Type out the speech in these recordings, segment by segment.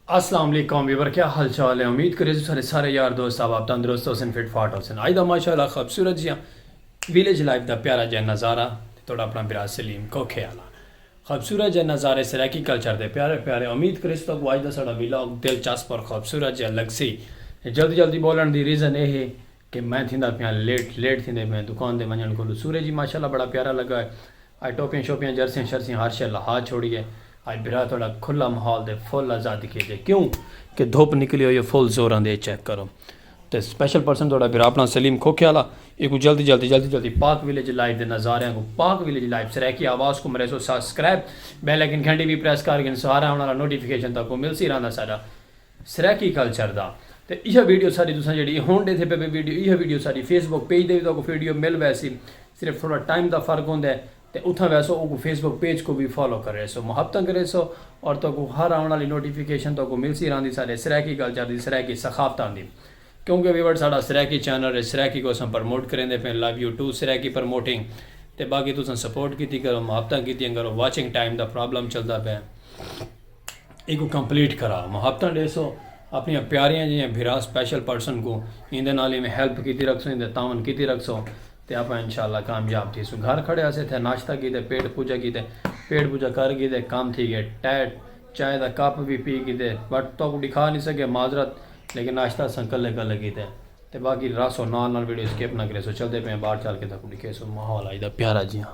السلام علیکم ویور کیا حال چال ہے امید کرے سارے سارے یار دوست آپ آپ تندرست حسن فٹ فاٹ حسن آئی دا ماشاء اللہ خوبصورت جیاں ویلیج لائف دا پیارا جیاں نظارہ توڑا اپنا برا سلیم کو خیالہ خوبصورت جئے نظارے سرائیکی کلچر دے پیارے پیارے امید کریس تہاکوں اج دا ساڈا ولاگ دلچسپ اور خوبصورت جئے لگسی جلدی جلدی بولن دی ریزن اے ہے کہ میں تھیندا پیاں لیٹ لیٹ تھیندے پیاں دکان دے ونجن کولوں سورج ہی ماشاءاللہ بڑا پیارا لگا ہے اج ٹوپیاں شوپیاں جرسیاں شرسیاں ہر شئے لہا چھوڑی ہے اج بھرا تہاڈا کھلا ماحول دے فل آزادی کیتے کیوں کہ دھوپ نکلی ہوئی ہے فل زوراں دے چیک کرو۔ تے سپیشل پرسن تہاڈا بھرا اپنا سلیم کھوکھے آلا ایکوں جلدی جلدی جلدی جلدی پاک ویلیج لائیو دے نظاریاں کوں پاک ویلیج لائیو سرائیکی آواز کوں مریسو ساسکرائب بیل ایکن گھنٹی وی پریس کر گھن سہارا آون آلا نوٹیفیکیشن تکوں ملسی رہندا ساڈا سرائیکی کلچر دا تے ایہا ویڈیو ساڈی تساں جیڑی ایہ ہن ڈیتھے پے پے ویڈیو ایہا ویڈیو ساڈی فیس بک پیج دے وی تکوں ویڈیو مل ویسی صرف تھوڑا ٹائم دا فرق ہوندے۔ تے اتھاں ویسو اوکوں فیس بک پیج کوں وی فالو کریسو محبتاں کریسو اور تہاکوں ہر آوݨ آلی نوٹیفیکیشن تہاکوں ملسی راہندی ساݙے سرائیکی کل چار دی سرائیکی ثقافتاں دی کیونکہ ویورڈ ساݙا سرائیکی چینل اے سرائیکی کوں اساں پرموٹ کریندے پئے love you too Saraiki promoting تے باقی تساں سپورٹ کیتی کرو محبتاں کیتیاں کرو واچنگ ٹائم دا پرابلم چلدا پئے ایکوں کمپلیٹ کراؤ محبتاں ݙیسو اپݨیاں پیاریاں جیہاں بھرا سپیشل پرسن کوں ایندے نال ایویں ہیلپ کیتی رکھسو ایندے تعاون کیتی رکھسو۔ تے آپاں انشاءاللہ کامیاب تھیسوں گھر کھڑے ہاسے تھے ناشتہ کیتے پیٹ پوجا کیتے پیٹ پوجا کر کیتے کم تھی گئے ٹائٹ چائے دا کپ وی پی کیتے بٹ توکوں ڈکھا نی سکے معذرت لیکن ناشتہ اساں کلے کلے کیتے تے باقی رہسو نال نال ویڈیو سکپ نہ کریسو چلدے پئے آں باہر چل کے تہاکوں ڈکھیسوں ماحول اج دا پیارا جیہاں۔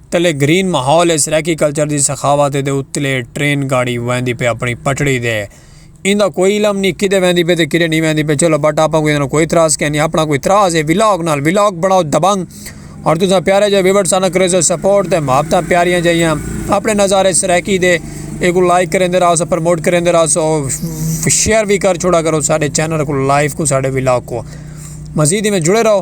تلے گرین ماحول اچ ریکی کلچر دی سخاوت ہے تے اتلے ٹرین گاڑی ویندی پئے اپنڑی پٹڑی تے ایندا کوئی علم نی کدھے ویندی پئے تے کدھے نی ویندی پئے چلو بٹ آپاں کوں ایندا کوئی اعتراض کینی اپنڑا کوئی اعتراض ہے ولاگ نال ولاگ بنڑاؤ دبنگ اور تساں پیارے جے ویورز ساناں کریزو سپورٹ تے محبتاں پیاریاں جیاں اپنے نظارے سرائیکی دے ایکو لائک کریندے رہا سو پروموٹ کریندے رہا سو شیئر بھی کر چھوڑا کرو ساڈے چینل کو لائیو کو ساڈے ولاگ کو مزید میں جڑے رہو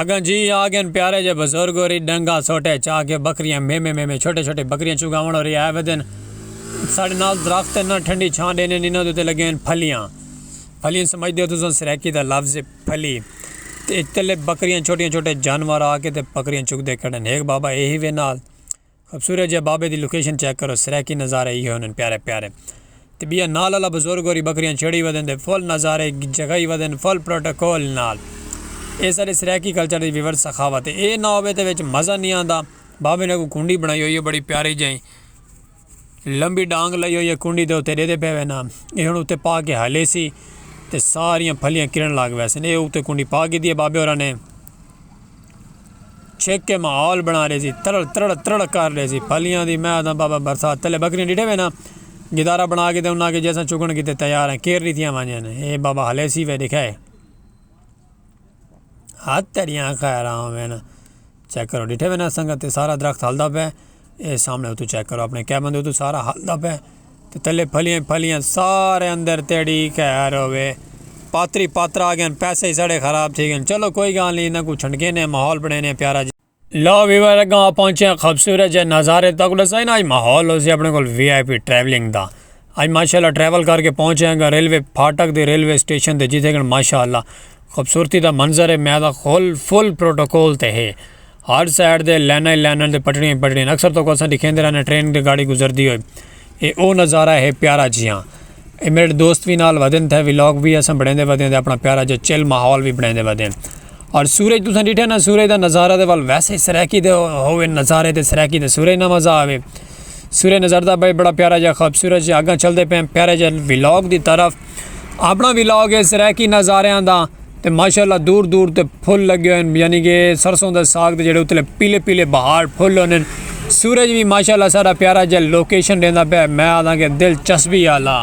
اگاں جی آ گن پیارے جے بزرگ ہوری ڈنگا سوٹے چا کے بکریاں میں میں میں میں چھوٹے چھوٹے بکریاں چگاون ہوری آئے ودن ساڈے نال درخت ہن نہ ٹھنڈی چھاں ڈینے ہن انہاں دے اتے لگے ہن پھلیاں پھلیاں سمجھ دیو تساں سرائیکی دا لفظ ہے پھلی تے اتلے بکریاں چھوٹیاں چھوٹے جانور آ کے تے بکریاں چگدے کھڑن ہیک بابا اے ہی وے نال خوبصورت جے بابے دی لوکیشن چیک کرو سرائیکی نظارے ہی ہوندن پیارے پیارے تے بیا نال اللہ بزرگ ہوری بکریاں چھڑی ودن تے فل نظارے جگائی ودن فل پروٹوکول نال اے سارے سرائیکی کلچر دی ویورس سخاوت اے نہ ہووے تے وچ مزہ نی آندا بابے نے کو کنڈی بنائی ہوئی ہے بڑی پیاری جائی لمبی ڈانگ لئی ہوئی ہے کنڈی دے اتے ڈیدے پے وینا اے ہن اتے پا کے ہلے سی تے ساریاں پھلیاں کرن لگ ویسے نے اے اتے کنڈی پا کے دیے بابے ہوراں نے۔ چھک کے ماحول بنا ڈیسی ترڑ ترڑ ترڑ کر ڈیسی پھلیاں دی میں آدھاں بابا برسات تلے بکریاں ڈیٹھے وینا گدارا بنا کے تے انہاں کے جیسا چگن کیتے تیار ہیں کیرری تھیاں وانجے نے اے بابا ہلے سی وے دکھائے ہاتھ تیریاں خیراں وینا چیک کرو ڈیٹھے وینا سنگت سارا درخت ہلدا پہ اے سامنے اتو چیک کرو اپنے کیبن دے اتو سارا حل دا پے تے تلے پھلیاں پھلیاں سارے اندر تیڑی خیر ہوے پاتری پاترا آ گئن پیسے ہی ساڑے خراب تھی گئن چلو کوئی گال نہیں انہاں کو چھنڈکے نے ماحول بنے نے پیارا جی لو ویور اگاں آپ پہنچے ہیں خوبصورت جے نظارے تک لسا ہی نا آج ماحول ہو سی اپنے کو وی آئی پی ٹریولنگ دا آج ماشاءاللہ ٹریول کر کے پہنچے ہیں گا ریلوے پھاٹک دے ریلوے سٹیشن دے جیتے گن ماشاءاللہ خوبصورتی دا منظر ہے میں دا خول فل پروٹوکول تے ہے ہر سائیڈ دے لیناں ای لیناں تے پٹڑیاں ای پٹڑیاں اکثر تہاکوں اساں ڈکھیندے رہنے ٹرین تے گاڑی گزردی ہوئی اے او نظارہ ہے پیارا جیہاں اے میڈے دوست وی نال ودن تھے ولاگ وی اساں بنڑیندے ودے تے اپنا پیارا جیہاں چل ماحول وی بنڑیندے ودے اور سورج تساں ڈٹھے نا سورج دا نظارہ تے ول ویسے سرائیکی تے ہووے نظارے تے سرائیکی تے سورج نا مزہ آوے۔ سورہ نظر دا بھائی بڑا پیارا جا خوبصورت جا اگاں چلدے پئے پیارے جا ولاگ دی طرف اپنا ولاگ ہے سرائیکی نظاریاں دا تے ماشاءاللہ دور دور تے پھل لگے ہوئے یعنی کہ سرسوں دے ساگ دے جڑے اتلے پیلے پیلے بہار پھل ہونے سورج بھی ماشاءاللہ سارا پیارا جا لوکیشن دیندا پئے میں آدھاں کہ دلچسپی آلا